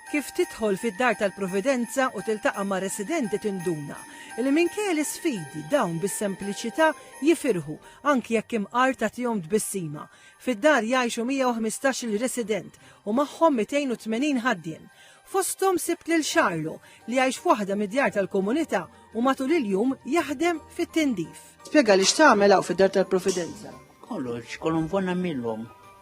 Kif tidħol fid-dar tal-Providenza u tiltaqa' ma' residenti tinduna li minkejja l-isfidi dawn bis-sempliċità jifirħu anki jekk imqar tagħtihom tbissima. Fid-dar jgħixu 115-il resident u magħhom 280 ħaddiem. Fosthom sibt lil Charlo li jgħix f'waħda mid-djar tal-komunità u matul il-jum jaħdem fit-tindif. Spjegali x'tagħmel hawn fid-dar tal-Providenza. Kollox, kollu nfon nagħmilhom.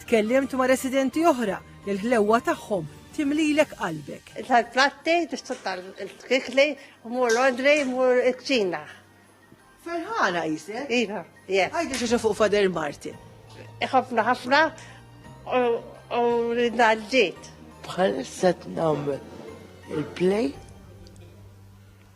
Tkellimt ma' residenti oħra li l-ħlewwa tagħhom timlilek qalbek. Tal-platti, tixtru tal-kikli, mur l-ordri, mur il-kċina. Ferħana jisek? Iva, jek. Għajdi xaxa fuq Fader Martin. Iħafna ħafna u ridna l-ġit. Bħal set namel il-play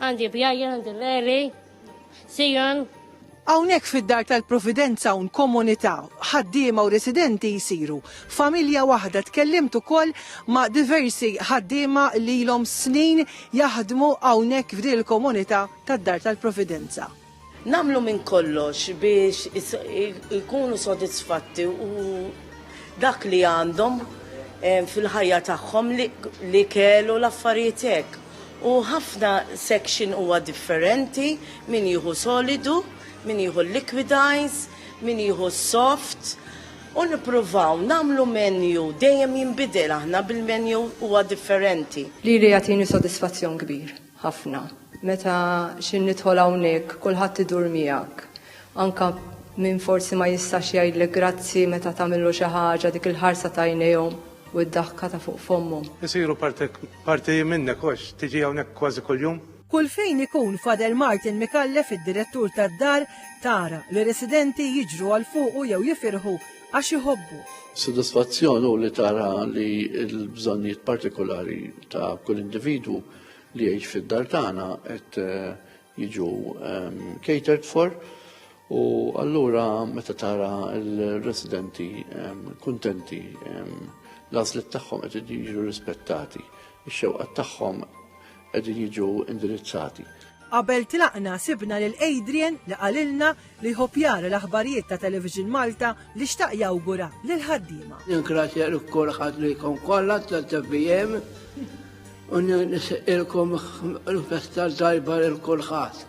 Għandi bjajja, għandi l-eri, sijan. Hawnhekk fid-dar tal-Providenza un komunità ħaddiema u residenti jsiru familja waħda tkellimt ukoll ma' diversi ħaddiema li ilhom snin jaħdmu hawnhekk f'din il-komunità tad-dar tal-Providenza. Nagħmlu minn kollox biex ikunu sodisfatti u dak li għandhom eh, fil-ħajja tagħhom li kellu l-affarijiet hekk. U ħafna section huwa differenti, min jieħu solidu, min jieħu liquidize, min jieħu soft. U nippruvaw nagħmlu menu dejjem jinbidel aħna bil-menu huwa differenti. Li jagħtini sodisfazzjon kbir. ħafna. Meta xi nidħol hawnhekk kulħadd idur miegħek. Anke min forsi ma jistax jgħidlek grazzi meta tagħmillu xi ħaġa dik il-ħarsa t'għajnejhom u d-daħka ta' fuq fommhom. Isiru parti minnek għax tiġi hawnhekk kważi kuljum. Kull fejn ikun Father Martin Micallef id-direttur tad-dar tara li residenti jiġru għal fuqu jew jifirħu għax iħobbuh. Sodisfazzjon hu li tara li l-bżonnijiet partikulari ta' kull individwu li jgħix fid-dar tagħna qed eh, jiġu ehm, catered for u allura meta tara l-residenti ehm, kuntenti ehm, l-għażliet tagħhom qed jiġu rispettati, ix-xewqat tagħhom qegħdin jiġu indirizzati. Qabel tlaqna sibna lil Adrian li qalilna li jħobb jara l-aħbarijiet ta' Television Malta li xtaq jawgura lill-ħaddiema. Ningrazzja lil kulħadd lilkom kollha tal-TVM u nisqilkom l-festa tajba lil kulħadd.